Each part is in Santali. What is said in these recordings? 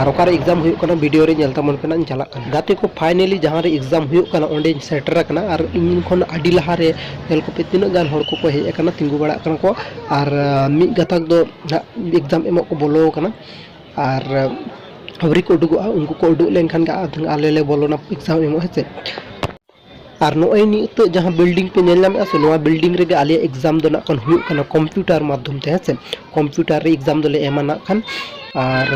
ᱟᱨ ᱚᱠᱟᱨᱮ ᱮᱠᱡᱟᱢ ᱦᱩᱭᱩᱜ ᱠᱟᱱᱟ ᱵᱷᱤᱰᱤᱭᱳ ᱨᱮ ᱧᱮᱞ ᱛᱟᱵᱚᱱ ᱯᱮ ᱱᱟᱜ ᱤᱧ ᱪᱟᱞᱟᱜ ᱠᱟᱱᱟ ᱜᱟᱛᱮ ᱠᱚ ᱯᱷᱟᱭᱱᱮᱞᱤ ᱡᱟᱦᱟᱸ ᱨᱮ ᱮᱠᱡᱟᱢ ᱦᱩᱭᱩᱜ ᱠᱟᱱᱟ ᱚᱸᱰᱮᱧ ᱥᱮᱴᱮᱨ ᱟᱠᱟᱱᱟ ᱟᱨ ᱤᱧ ᱠᱷᱚᱱ ᱟᱹᱰᱤ ᱞᱟᱦᱟ ᱨᱮ ᱧᱮᱞ ᱠᱚᱯᱮ ᱛᱤᱱᱟᱹᱜ ᱜᱟᱱ ᱦᱚᱲ ᱠᱚᱠᱚ ᱦᱮᱡ ᱟᱠᱟᱱᱟ ᱛᱤᱸᱜᱩ ᱵᱟᱲᱟᱜ ᱠᱟᱱᱟ ᱠᱚ ᱟᱨ ᱢᱤᱫ ᱜᱟᱛᱟᱠ ᱫᱚ ᱱᱟᱜ ᱮᱠᱡᱟᱢ ᱮᱢᱚᱜ ᱠᱚ ᱵᱚᱞᱚ ᱟᱠᱟᱱᱟ ᱟᱨ ᱟᱹᱣᱨᱤ ᱠᱚ ᱩᱰᱩᱠᱚᱜᱼᱟ ᱩᱱᱠᱩ ᱠᱚ ᱩᱰᱩᱠ ᱞᱮᱱᱠᱷᱟᱱ ᱜᱮ ᱟᱞᱮ ᱞᱮ ᱵᱚᱞᱚᱱᱟ ᱮᱠᱡᱟᱢ ᱮᱢᱚᱜ ᱦᱮᱸ ᱥᱮ ᱟᱨ ᱱᱚᱜᱼᱚᱭ ᱱᱤᱛᱚᱜ ᱡᱟᱦᱟᱸ ᱵᱤᱞᱰᱤᱝ ᱯᱮ ᱧᱮᱞ ᱧᱟᱢᱮᱫᱼᱟ ᱥᱮ ᱱᱚᱣᱟ ᱵᱤᱞᱰᱤᱝ ᱨᱮᱜᱮ ᱟᱞᱮᱭᱟᱜ ᱮᱠᱡᱟᱢ ᱫᱚ ᱱᱟᱜ ᱠᱷᱟᱱ ᱦᱩᱭᱩᱜ ᱠᱟᱱᱟ ᱠᱚᱢᱯᱤᱭᱩᱴᱟᱨ ᱢᱟᱫᱽᱫᱷᱚᱢ ᱛᱮ ᱦᱮᱸ ᱥᱮ ᱠᱚᱢᱯᱤᱭᱩᱴᱟᱨ ᱨᱮ ᱮᱠᱡᱟᱢ ᱫᱚᱞᱮ ᱮᱢᱟ ᱱᱟᱜ ᱠᱷᱟᱱ ᱟᱨ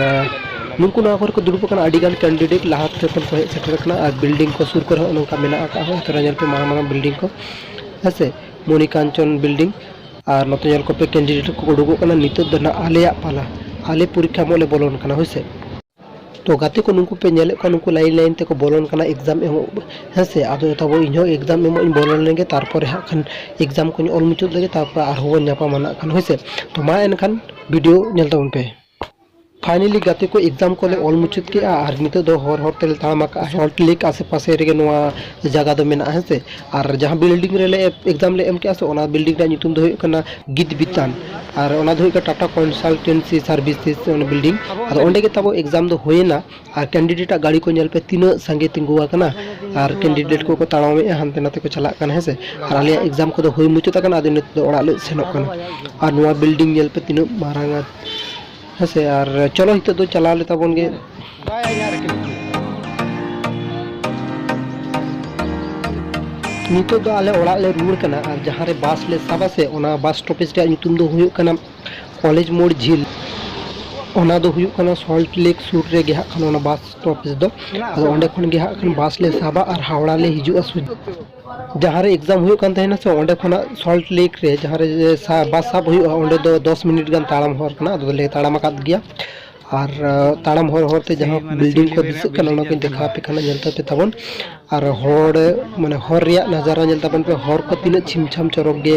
ᱱᱩᱠᱩ ᱱᱚᱣᱟ ᱠᱚᱨᱮ ᱠᱚ ᱫᱩᱲᱩᱵ ᱟᱠᱟᱱᱟ ᱟᱹᱰᱤ ᱜᱟᱱ ᱠᱮᱱᱰᱤᱰᱮᱴ ᱞᱟᱦᱟ ᱛᱮ ᱠᱷᱚᱱ ᱠᱚ ᱦᱮᱡ ᱥᱮᱴᱮᱨ ᱟᱠᱟᱱᱟ ᱟᱨ ᱵᱤᱞᱰᱤᱝ ᱠᱚ ᱥᱩᱨ ᱠᱚᱨᱮ ᱦᱚᱸ ᱱᱚᱝᱠᱟ ᱢᱮᱱᱟᱜ ᱟᱠᱟᱫᱼᱟ ᱦᱚᱸ ᱛᱚᱨᱟ ᱧᱮᱞ ᱯᱮ ᱢᱟᱨᱟᱝ ᱢᱟᱨᱟᱝ ᱵᱤᱞᱰᱤᱝ ᱠᱚ ᱦᱮᱸ ᱥᱮ ᱢᱚᱱᱤᱠᱟᱧᱪᱚᱱ ᱵᱤᱞᱰᱤᱝ ᱟᱨ ᱱᱚᱛᱮ ᱧᱮᱞ ᱠᱚᱯᱮ ᱠᱮᱱᱰᱤᱰᱮᱴ ᱠᱚ ᱩᱰᱩᱠᱚᱜ ᱠᱟᱱᱟ ᱱᱤᱛᱚᱜ ᱫᱚ ᱱᱟᱜ ᱟᱞᱮᱭᱟᱜ ᱯᱟᱞᱟ ᱟᱞᱮ ᱯᱚᱨᱤᱠᱠᱷᱟ ᱮᱢᱚᱜ ᱞᱮ ᱵᱚᱞᱚᱱ ᱠᱟᱱᱟ ᱦᱳᱭ ᱥᱮ ᱛᱚ ᱜᱟᱛᱮ ᱠᱚ ᱱᱩᱠᱩ ᱯᱮ ᱧᱮᱞᱮᱫ ᱠᱚᱣᱟ ᱱᱩᱠᱩ ᱞᱟᱭᱤᱱ ᱞᱟᱭᱤᱱ ᱛᱮᱠᱚ ᱵᱚᱞᱚᱱ ᱠᱟᱱᱟ ᱮᱠᱡᱟᱢ ᱮᱢᱚᱜ ᱦᱮᱸ ᱥᱮ ᱟᱫᱚ ᱛᱟᱵᱚ ᱤᱧ ᱦᱚᱸ ᱮᱠᱡᱟᱢ ᱮᱢᱚᱜ ᱤᱧ ᱵᱚᱞᱚ ᱞᱮᱱ ᱜᱮ ᱛᱟᱨᱯᱚᱨᱮ ᱦᱟᱸᱜ ᱠᱷᱟᱱ ᱮᱠᱡᱟᱢ ᱠᱚᱧ ᱚᱞ ᱢᱩᱪᱟᱹᱫ ᱞᱮᱜᱮ ᱛᱟᱨᱯᱚᱨᱮ ᱟᱨᱦᱚᱸ ᱵᱚᱱ ᱧᱟᱯᱟᱢᱟ ᱱᱟᱜ ᱠᱷᱟᱱ ᱦᱳᱭ ᱥᱮ ᱛᱚ ᱢᱟ ᱮᱱᱠᱷᱟᱱ ᱵᱷᱤᱰᱤᱭᱳ ᱧᱮᱞ ᱛᱟᱵᱚᱱ ᱯᱮ ᱯᱷᱟᱭᱱᱮᱞᱤ ᱜᱟᱛᱮ ᱠᱚ ᱮᱠᱡᱟᱢ ᱠᱚᱞᱮ ᱚᱞ ᱢᱩᱪᱟᱹᱫ ᱠᱮᱜᱼᱟ ᱟᱨ ᱱᱤᱛᱚᱜ ᱫᱚ ᱦᱚᱨ ᱦᱚᱨ ᱛᱮᱞᱮ ᱛᱟᱲᱟᱢ ᱟᱠᱟᱜᱼᱟ ᱥᱚᱞᱴ ᱞᱮᱠ ᱟᱥᱮ ᱯᱟᱥᱮ ᱨᱮᱜᱮ ᱱᱚᱣᱟ ᱡᱟᱭᱜᱟ ᱫᱚ ᱢᱮᱱᱟᱜᱼᱟ ᱦᱮᱸ ᱥᱮ ᱟᱨ ᱡᱟᱦᱟᱸ ᱵᱤᱞᱰᱤᱝ ᱨᱮᱞᱮ ᱮᱠᱡᱟᱢ ᱞᱮ ᱮᱢ ᱠᱮᱜᱼᱟ ᱥᱮ ᱚᱱᱟ ᱵᱤᱞᱰᱤᱝ ᱨᱮᱭᱟᱜ ᱧᱩᱛᱩᱢ ᱫᱚ ᱦᱩᱭᱩᱜ ᱠᱟᱱᱟ ᱜᱤᱛ ᱵᱤᱛᱟᱱ ᱟᱨ ᱚᱱᱟ ᱫᱚ ᱦᱩᱭᱩᱜ ᱠᱟᱱᱟ ᱴᱟᱴᱟ ᱠᱚᱱᱥᱟᱞᱴᱮᱱᱥᱤ ᱥᱟᱨᱵᱷᱤᱥᱮᱥ ᱚᱱᱟ ᱵᱤᱞᱰᱤᱝ ᱟᱫᱚ ᱚᱸᱰᱮ ᱜᱮ ᱛᱟᱵᱚ ᱮᱠᱡᱟᱢ ᱫᱚ ᱦᱩᱭᱮᱱᱟ ᱟᱨ ᱠᱮᱱᱰᱤᱰᱮᱴ ᱟᱜ ᱜᱟᱹᱲᱤ ᱠᱚ ᱧᱮᱞ ᱯᱮ ᱛᱤᱱᱟᱹᱜ ᱥᱟᱸᱜᱮ ᱛᱤᱸᱜᱩ ᱟᱠᱟᱱᱟ ᱟᱨ ᱠᱮᱱᱰᱤᱰᱮᱴ ᱠᱚᱠᱚ ᱛᱟᱲᱟᱢᱮᱜᱼᱟ ᱦᱟᱱᱛᱮ ᱱᱟᱛᱮ ᱠᱚ ᱪᱟᱞᱟᱜ ᱠᱟᱱᱟ ᱦᱮᱸᱥᱮ ᱟᱨ ᱟᱞᱮᱭᱟᱜ ᱮᱠᱡᱟᱢ ᱠᱚᱫᱚ ᱦᱩᱭ ᱢᱩᱪᱟᱹᱫ ᱟᱠᱟᱱᱟ ᱟᱫᱚ ᱱᱤᱛᱚᱜ ᱫᱚ ᱚᱲᱟᱜ ᱞᱮ ᱥᱮᱱᱚᱜ ᱠᱟᱱᱟ ᱟᱨ ᱱᱚᱣᱟ ᱵᱤᱞᱰᱤᱝ ᱧᱮᱞ ᱯᱮ ᱛᱤᱱᱟᱹᱜ ᱢᱟᱨᱟᱝᱟ ᱦᱮᱸᱥᱮ ᱟᱨ ᱪᱚᱞᱚ ᱱᱤᱛᱚᱜ ᱫᱚ ᱪᱟᱞᱟᱣ ᱞᱮ ᱛᱟᱵᱚᱱ ᱜᱮ ᱱᱤᱛᱚᱜ ᱫᱚ ᱟᱞᱮ ᱚᱲᱟᱜ ᱞᱮ ᱨᱩᱣᱟᱹᱲ ᱠᱟᱱᱟ ᱟᱨ ᱡᱟᱦᱟᱸ ᱨᱮ ᱵᱟᱥ ᱞᱮ ᱥᱟᱵᱟ ᱥᱮ ᱚᱱᱟ ᱵᱟᱥ ᱥᱴᱚᱯᱮᱡᱽ ᱨᱮᱭᱟᱜ ᱧᱩᱛᱩᱢ ᱫᱚ ᱦᱩᱭᱩᱜ ᱠᱟᱱᱟ ᱠᱚᱞᱮᱡᱽ ᱢᱳᱲ ᱡᱷᱤᱞ ᱚᱱᱟ ᱫᱚ ᱦᱩᱭᱩᱜ ᱠᱟᱱᱟ ᱥᱚᱞᱴ ᱞᱮᱠ ᱥᱩᱨ ᱨᱮᱜᱮ ᱦᱟᱸᱜ ᱠᱷᱟᱱ ᱚᱱᱟ ᱵᱟᱥ ᱥᱴᱚᱯᱮᱡᱽ ᱫᱚ ᱟᱫᱚ ᱚᱸᱰᱮ ᱠᱷᱚᱱ ᱜᱮ ᱦᱟᱸᱜ ᱠᱷᱟᱱ ᱵᱟᱥ ᱞᱮ ᱥᱟᱵᱟ ᱟᱨ ᱦᱟᱣᱲᱟ ᱞᱮ ᱦᱤᱡᱩᱜᱼᱟ ᱡᱟᱦᱟᱸ ᱨᱮ ᱮᱠᱡᱟᱢ ᱦᱩᱭᱩᱜ ᱠᱟᱱ ᱛᱟᱦᱮᱱᱟ ᱥᱮ ᱚᱸᱰᱮ ᱠᱷᱚᱱᱟᱜ ᱥᱚᱞᱴ ᱞᱮᱠ ᱨᱮ ᱡᱟᱦᱟᱸ ᱨᱮ ᱵᱟᱥ ᱥᱟᱵ ᱦᱩᱭᱩᱜᱼᱟ ᱚᱸᱰᱮ ᱫᱚ ᱫᱚᱥ ᱢᱤᱱᱤᱴ ᱜᱟᱱ ᱛᱟᱲᱟᱢ ᱦᱚᱨ ᱠᱟᱱᱟ ᱟᱫᱚ ᱞᱮ ᱛᱟᱲᱟᱢ ᱟᱠᱟᱫ ᱜᱮᱭᱟ ᱟᱨ ᱛᱟᱲᱟᱢ ᱦᱚᱨ ᱦᱚᱨ ᱛᱮ ᱡᱟᱦᱟᱸ ᱵᱤᱞᱰᱤᱝ ᱠᱚ ᱫᱤᱥᱟᱹᱜ ᱠᱟᱱᱟ ᱚᱱᱟ ᱠᱚᱧ ᱫᱮᱠᱷᱟᱣ ᱟᱯᱮ ᱠᱟᱱᱟ ᱧᱮᱞ ᱛᱟᱯᱮ ᱛᱟᱵᱚᱱ ᱟᱨ ᱦᱚᱲ ᱢᱟᱱᱮ ᱦᱚᱨ ᱨᱮᱭᱟᱜ ᱱᱟᱡᱟᱨᱟ ᱧᱮᱞ ᱛᱟᱵᱚᱱ ᱯᱮ ᱦᱚᱨ ᱠᱚ ᱛᱤᱱᱟᱹᱜ ᱪᱷᱤᱢ ᱪᱷᱟᱢ ᱪᱚᱨᱚᱠ ᱜᱮ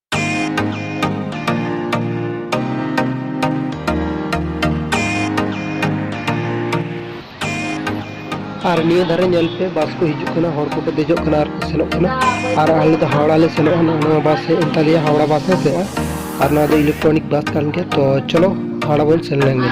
ᱟᱨ ᱱᱤᱭᱟᱹ ᱫᱷᱟᱨᱮ ᱧᱮᱞ ᱯᱮ ᱵᱟᱥ ᱠᱚ ᱦᱤᱡᱩᱜ ᱠᱟᱱᱟ ᱦᱚᱲ ᱠᱚᱠᱚ ᱫᱮᱡᱚᱜ ᱠᱟᱱᱟ ᱟᱨ ᱠᱚ ᱥᱮᱱᱚᱜ ᱠᱟᱱᱟ ᱟᱨ ᱟᱞᱮ ᱫᱚ ᱦᱟᱣᱲᱟ ᱞᱮ ᱥᱮᱱᱚᱜᱼᱟ ᱱᱚᱣᱟ ᱵᱟᱥ ᱦᱮᱡ ᱮᱱ ᱛᱟᱞᱮᱭᱟ ᱦᱟᱣᱲᱟ ᱵᱟᱥ ᱦᱮᱸ ᱥᱮ ᱟᱨ ᱱᱚᱣᱟ ᱫᱚ ᱤᱞᱮᱠᱴᱨᱚᱱᱤᱠ ᱵᱟᱥ ᱠᱟᱱ ᱜᱮᱭᱟ ᱛᱚ ᱪᱚᱞᱚ ᱦᱟᱣᱲᱟ ᱵᱚᱱ ᱥᱮᱱ ᱞᱮᱱ ᱜᱮ